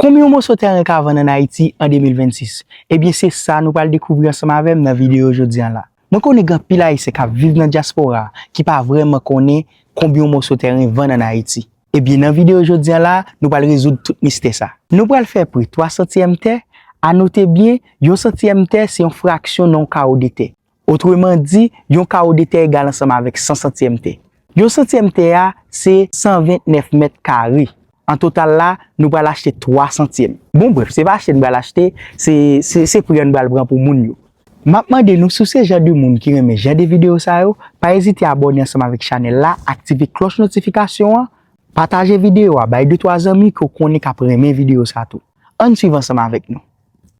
Konbyen yon moso tèren ka vann an Ayiti an 2026? Ebyen se sa nou pral dekouvri ansanm avè m nan videyo jodi an la. Mwen konnen gen anpil Ayisyen k ap viv nan dyaspora a ki pa vrèman konnen konbyen yon moso tèren vann an Ayiti. Ebyen nan videyo jodi an la a, nou pral rezoud tout mistè sa. Nou pral fè pri 3 santiyèm tè, a note byen, yon santiyèm tè se yon fraksyon nan yon kawo de tè. Otreman di, yon kawo de tè egal ansanm avèk 100 santyèm tè. Yon santyèm tè a se 129 mèt kare. An total la, nou pral achte 3 santyèm. Bon brèf, se pa achte n pral achte, se se pri an n pral pran pou moun yo. M ap mande nou, si w se jan de moun ki renmen jan de videyo sa yo, pa ezite abòne ansanm avèk chanèl la, aktive klòch notifikasyon an, pataje videyo a bay de twa zanmi ke w konnen k ap renmen videyo sa tou. An n swiv ansanm avèk nou.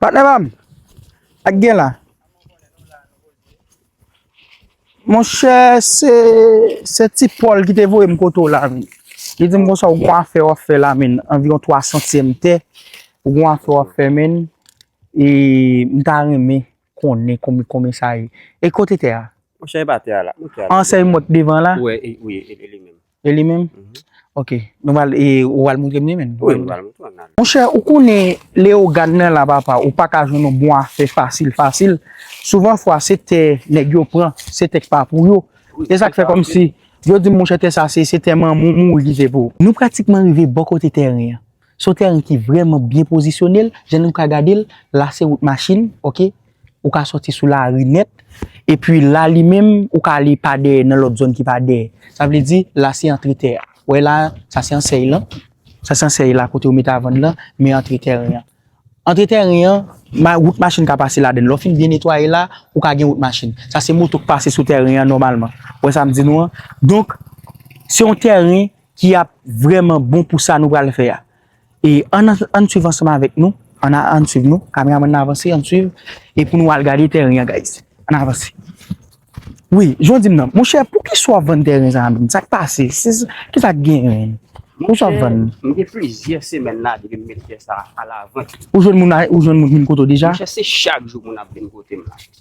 Patnè pa m, sa k gen la? Monchè, se ti Pòl ki te voye m kote w la menm. Li di m konsa ou gen yon afè w ap fè la menm, anviwon twa santyèm tè, ou gen yon afè w ap fè menm, e m ta renmen konnen konbyen sa ye. E kote tè a? Monchè, e pa tè a la. Ansèy mòt devan la? Wi, e li menm. E li menm? Ok. Nou pral e ou al moutre m li menm? Wi, m pral moutre w an al. Monchè, ou konnen Leyogàn nan la papa, ou pa ka jwenn yon bon afè fasil fasil. Souvan fwa se tè nèg yo pran, se tè k pa pou yo. Se sa k fè kòm si yo di m monchè tè sa se tè manman w mouri ki se pou ou. Nou pratikman rive bò kote tèren an. Son tèren ki vrèman byen pozisyone l, jan nou ka gade l la se wout machin ok, ou ka sòti sou lari nèt, epi la li menm ou ka ale pa dèyè nan lòt zòn ki pa dèyè, sa vle di la se antre tè a, ou wè la sa se ansèy lan, sa se ansèy la kote ou mete a vann lan, men antre tèren an. Antre tèren an, wout machin ka pase ladan l, lè w fin byen netwaye la, ou ka gen wout machin, sa se moto k pase sou tèren an nòmalman, ou wè sa m di nou an, donk se yon tèren ki ap vrèman bon pou sa nou pral fè a. E ann ann swiv ansanm avèk nou, ann a ann swiv nou, kameraman nan avanse ann swiv e pou nou al gade tèren an guys. Ann avanse. Wi, jan w di m nan, monchè poukisa w ap vann tèren sa a menm? Sa k pase? Ki sa k genyen? Poukisa w ap vann? Monchè, m gen plizyè semèn la depi m met tè sa a alavant. Ou jwenn moun, ou jwenn moun vin kote w deja? Monchè se chak jou moun ap vin kote m la.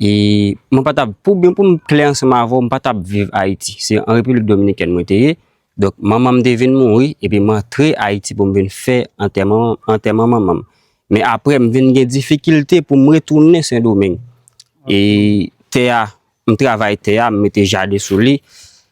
E mwen pa tap, pou byen pou m klè ansanm avè w, m pa tap viv Ayiti. Se an Repiblik Dominikèn mwen te ye. Donk, manman m te vin mouri, epi m antre Ayiti pou m vin fè antèman, antèman manman m. Men apre, m vin gen difikilte pou m retounen Sendomeng. E tè a, m travay tè a, m mete jaden sou li.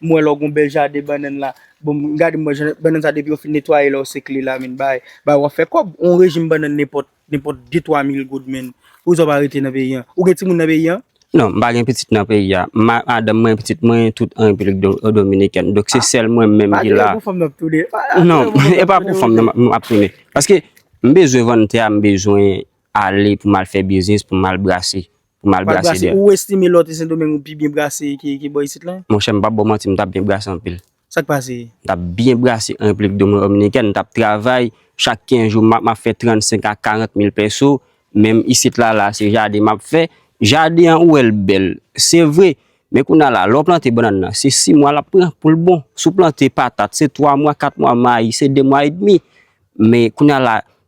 M wè lò gon bèl jaden bannann la. Bon m gade m wè jan bannann sa depi yo fin netwaye la ou sekle la menn bay bay wap fè kòb on rejim bannann nenpòt nenpòt de twa mil goud menn pouzè w pa rete nan peyi an ou gen timoun nan peyi an? Non m pa gen pitit nan peyi a ma madanm mwen pitit mwen tout an repiblik dominikèn donk se sèl mwen menm ki la non e pa pou fanm nan map tounen paske m bezwen vann tè a m bezwen ale pou m al fè biznis pou m al brase Pou mal Mal brase brase. dèyè. Ou estime lòt e Sendomeng ou pi byen brase ke ke bò isit lan? Monchè, m pap ba w manti, m t ap byen brase anpil. Sa k pase? M t ap byen brase an Repiblik Dominikèn. M t ap travay chak 15 jou m ap fè 35 a 40 mil pèso. Menm isit la la, se jaden m ap fè. Jaden an ou wè l bèl, se vre. Men kounye a la, lè w plante bannann nan, se 6 mwa l ap pran pou l bon. Si w plante patat, se 3 mwa, 4 mwa, mayi, se 2 mwa edmi. Men kounye a la,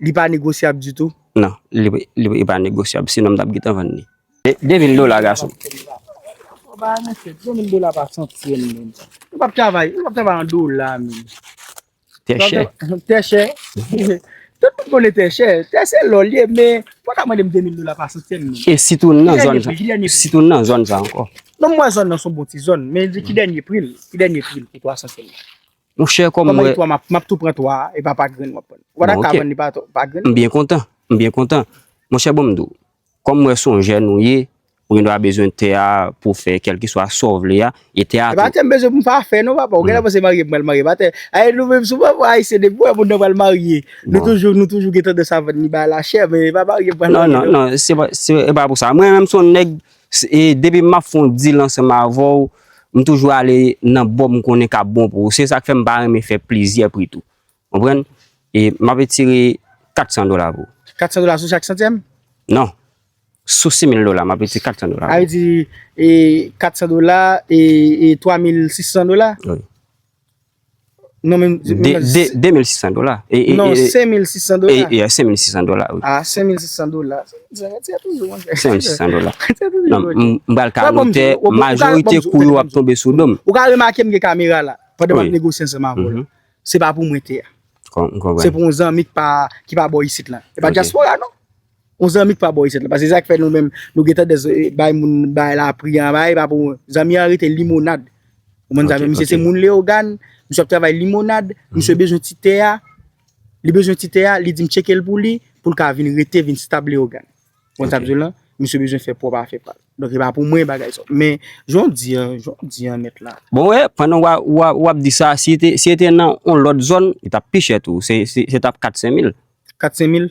Li pa negosyab ditou? Non, li pa negosyab, sinon m t ap gentan vann li. De mil dola gason. Bon bagay mesye, de mil dola pa san tyenn menm. Ou pa p travay, ou pa p travay an dola menm. Tè chè. Tè chè. Tout moun konnen tè chè. Tè se lò li ye, men ou pa ka mande m de mil dola pa san tyenn menm. E si tou nan zòn sa. Ki dènye pri? Si tou nan zòn sa ankò. Non m wè zòn nan s on bon ti zòn, men ki dènye pri l? Ki dènye pri l pou 300 tyenn? Mon chè kòm mwen. Kòman itwa map map tou pran 3 a epa pa grenn wap pran. Bon ok. Wata ka vann li pa to pa grenn. Mbyen kontan mbyen kontan. Mon chè bon mdiw kòm mwen son jèn ou ye ou gen dwa bezwen tè a pou fè kèlkeswa saw vle a e tè a tou. Epa tè mbezwen poum pa fè non papa ou genlè panse marye pral marye epa tè a e nou menm sou papa ayisyen depi wè moun nan pral marye nou toujou nou toujou gen tandans a vann li bay la chè men epa marye pral marye non. Non non se epa pou sa mwen menm son nèg e depi map fon deal ansanm avèw m toujou ale nan bò m konnen kap bon pou ou se sak fè m pa renmen fè plizyè pri tou konprann e map etire 400 dola pou ou. 400 dola sou chak santyèm? Non sou 6000 dola map etire 400 dola pou ou. Sa vle di 400 dola e 3600 dola? Wi. Non men. 2600 dola. Non 5600 dola. E ya 5600 dola. A 5600 dola. Ti a toujou an jè. 5600 dola. Ti a toujou an jè. Non m bal ka montè. Majorite kou yo ap tonbe sou dom. Ou ka remake m gen kamera la. Pwede m ap negosye ansanm avè w. Se pa pou mwen te a. M konpran. Se pou yon zanmi ki pa bo isit la. E pa diaspora non. Yon zanmi ki pa bò isit la. Paske se sak fè nou menm nou gen tandans bay moun bagay la pri an ba e pa pou zanmi an rete limonad. Ou konprann sa vle di? Misye se moun Leyogàn, misye ap travay limonad, misye bezwen ti tè a, li bezwen ti tè a, li di m tcheke l pou li, pou l ka vin rete, vin stab Leyogàn. Ou konprann sa m di w la? Misye bezwen fè pwòp afè pa l. Donk e pa pou mwen bagay sa. Men, jan w di an, jan w di an nèt la. Bon wè, pandan w ap di sa, si e te nan yon lòt zòn, li t ap pi chè tou. Se t ap 4-5 mil. 4-5 mil?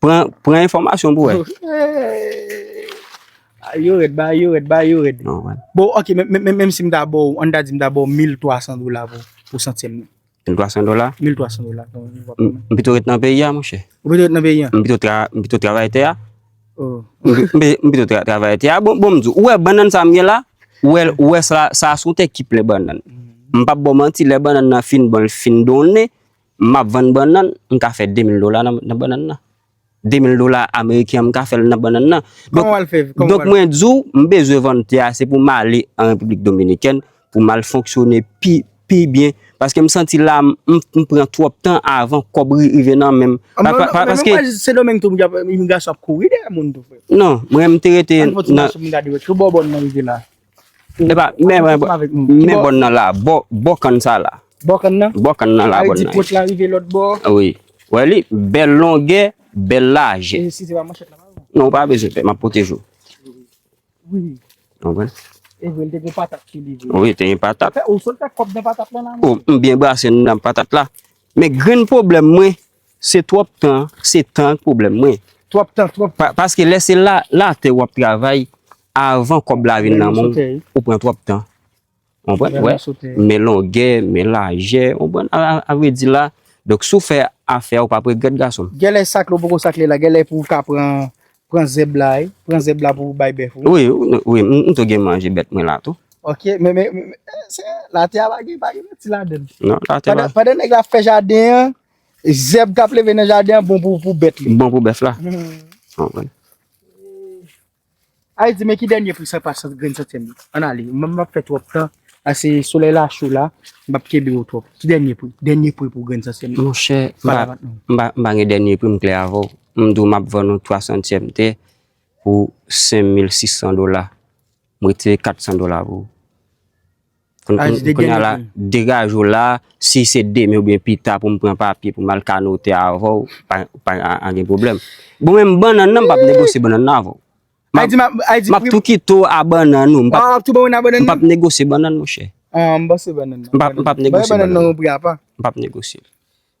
Pran pran enfòmasyon pou wè. Ay yo rèd, bagay yo rèd, bagay yo rèd. Non, wè. Bon, ok, men- men- men- menm si m ta ba w, an n ta di m ta ba w 1300 dola pou, pou santyèm nan. 1300 dola? 1300 dola. bon, nou va M pran. m pito ret nan peyi a, monchè. Ou pito ret nan peyi an? M pito tra, m pito travay tè a. Oh. M pi- m pi- m pito tra, travay tè a. Bon, bon m di w, ou wè bannann sa m gen la? Ou wè l, ou wè sa, sa a s on tè ki plen bannann. M p ap ba w manti, lè bannann nan fin bon, l fin donnen, Map vann bannann, m ka fè 2000 dola nan bannann nan. 2000 dola ameriken an m ka fèl nan bannann nan. Kòman wal fè? Donk mwen di w, m bezwen vann tè a se pou m ale an Repiblik Dominikèn pou m al fonksyone pi pi byen paske m santi la m pran twòp tan avan kòb rive nan men m. Men m wè Sendomeng tou imigrasyon ap kouri dèyè moun tou frè. Non, mwen m te rete nan. An fè yon ti mache pou m gade wè ki bò bò n nan rive la. Epa, men mwen bon. Men bon nan la, bon kan sa la. Bon kan nan? Bon kan nan la bon nan. Awe di pot la rive lot bo. Awe. Wè li, bel longe, bel laje. E si se pa man chet la pa ou? Non, pa be se pe, ma pote jou. Ou li. Ou wè? E vwe li te gen patat ki li vwe. Ou li te gen patat. Ape, ou sot te kop de patat la nan? Ou, m byen brase nan patat la. Men gren problem mwen, se trop tan, se tan problem mwen. Trop tan, trop tan. Paske lese la, la te wap travay, Avan kòb la vin nan men w, ou pran twòp tan. Ou konprann? Wè, men longè, men lajè, ou konprann? A vre di la, donk si w fè afè a, ou pap regrèt gason m. Genlè sakle ou poko sakle la, genlè pou w ka pran, pran zèb la, e, pran zèb la pou w bay bèf ou. Wi, wi, m tou gen manje bèt mwen la tou. Ok, men, men, men, se, latè a pa gen, pa gen manti ladan l. Non, latè a pa. Pandan nèg la ap fè jaden an, zèb k ap leve nan jaden an bon pou, pou bèt li. Bon pou bèf la. Ou konprann? Ay di men ki dènye pri sa pa sant grenn santyèm nan. An ale, m ap fè twòp tan, ase solèy la cho la, m ap kenbe yo twòp. Ki dènye pri? Dènye pri pou grenn santyèm nan. Monchè, m pa, m pa, m pa gen dènye pri m klè avè w. M di w m ap vann ou twa santyèm tè pou senmil sis san dola. M retire kat san dola pou ou. Kounya la degaj ou la, si se demen oubyen pita pou m pran papye pou m al ka note avè w, pa gen pwoblèm. Bon menm bannann nan m pap negosye bannann nan avè w. M ap tou kite w a bannann ou, m pap negosye bannann monchè. M pap negosye bannann nan. M pap negosye.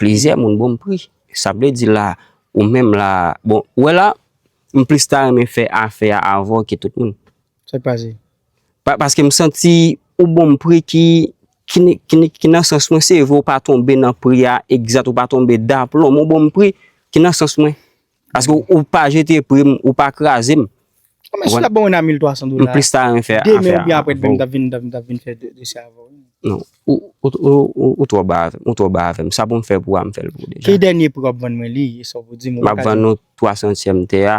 Plizyè moun bon pri. Sa vle di la ou menm la bon ou wè la m plis ta renmen fè afè a avè w ke tout moun. Sa k pase? Paske m santi ou bon m pri ki ki nan sans mwen se vre ou pa tonbe nan pri a egzat ou pa tonbe daplon men w bon m pri ki nan sans mwen. Paske ou pa jete pri m, ou pa kraze m. Bon men si w ta ban mwen nan 1300 dola, demen oubyen aprè demen m t ap vin m t ap vin fè dosye avè w. Non, ou twò ba avè m, ou twò ba avè m. Sa pou m fè pou a m fè l pou ou deja. Ki dènye pri w ap vann mwen li, e sa w vle di m. M ap vann ou 3 santyèm tè a,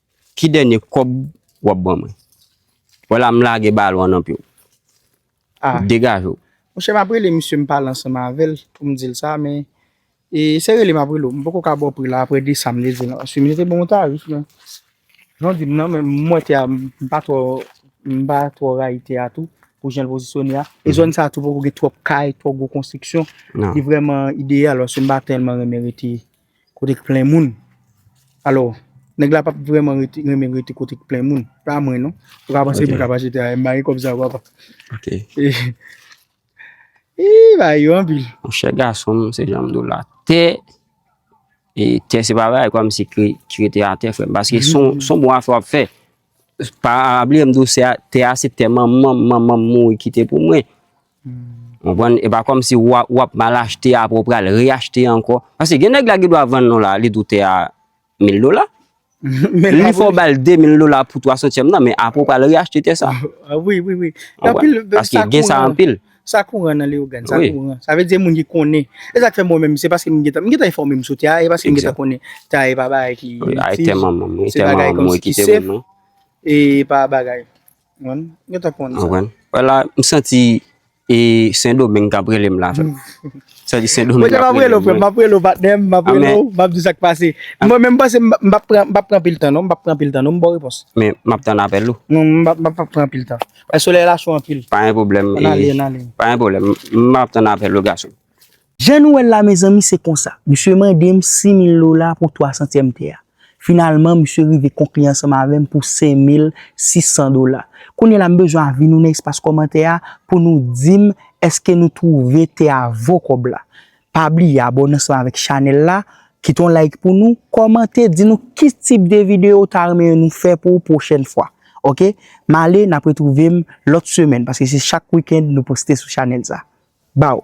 Ki dènye kòb wap ban mwen. Wala m lage balon an nan pye w. Ah. Degaje w. Monchè map rele misye m pale ansanm avèl poum dil sa men e se rele map rele w m poko ka baw pri la aprè de sam te di w lan paske misye te banm yon tarif men jan w dim nan menm mwen tè a m pa twò m pa twò rayi tè a tou pou janl pozisyone a e zòn sa tou poko gen twòp kay twò gwo konstriksyon li vrèman ideyal paske m pa tèlman renmen rete kote k plen moun alò nèg la pap vrèman rete renmen rete kote k plen moun pa mwen non ou ka panse mwen kap achete ayè m pa gen kòb sa papa ok ii bagay yo anpil monchè gason m se janm di w la tè e tè se pa bagay kòmsi ki rete atè frè m paske son bon afè w ap fè Pa bliye m di w se te asepte manman m manman m mouri kite pou mwen. Ou konprann? E pa kòmsi w ap mal achte aprè w pral reyachte ankò. Paske gen nèg la ki dwa vann ou la, li di w tè a 1000 dola. Li fè w ba l 2000 dola pou twa santyèm nan, men aprè w pral reyachte tè sa. Wi, wi, wi. Ou konprann? Paske gen sa anpil. Sa kouran nan Leyogan, sa kouran. Sa vle di moun ki konnen. E sak fè mwen menm, se paske m gen tan, m gen tan enfòme m sou tè a, e paske m gen tan konnen tè a e pa bagay ki itil. Ay tè manman m, tè manman m mwen kite moun non. E pa bagay. Mwen gen tan konnen sa. Wè la, m santi e Sendomeng kap rele m la frè m. Santi Sendomeng kap rele m. Mwen te map rele w frè m, map rele w patnè m, map rele w, map di sak pase. Mwen menm m panse m pap pran anpil tan non, m pap pran anpil tan non, m baw repons. Men map tann apèl ou. M pap pran anpil tan. Bay solèy la cho anpil. Pa gen pwoblèm. An ale, an ale. Pa gen pwoblèm. M ap tann apèl ou gason. Jan nou wè l la mezanmi se konsa. Misye mande m 6 mil dola pou 3 santyèm tè a. Finalman misye rive konkli ansanm avè m pou 5 mil 600 dola. Kounye la m bezwen avi nou nan espas kòmantè a pou nou di m èske nou twouve tè a vo kòb la. Pa bliye abone ansanm avèk chanèl la, kite yon like pou nou, kòmante di nou ki tip de videyo ou ta renmen nou fè pou ou pwochèn fwa. Ok, m ale, n ap retwouve m lòt semèn paske se chak wikend nou poste sou chanèl sa. Baw!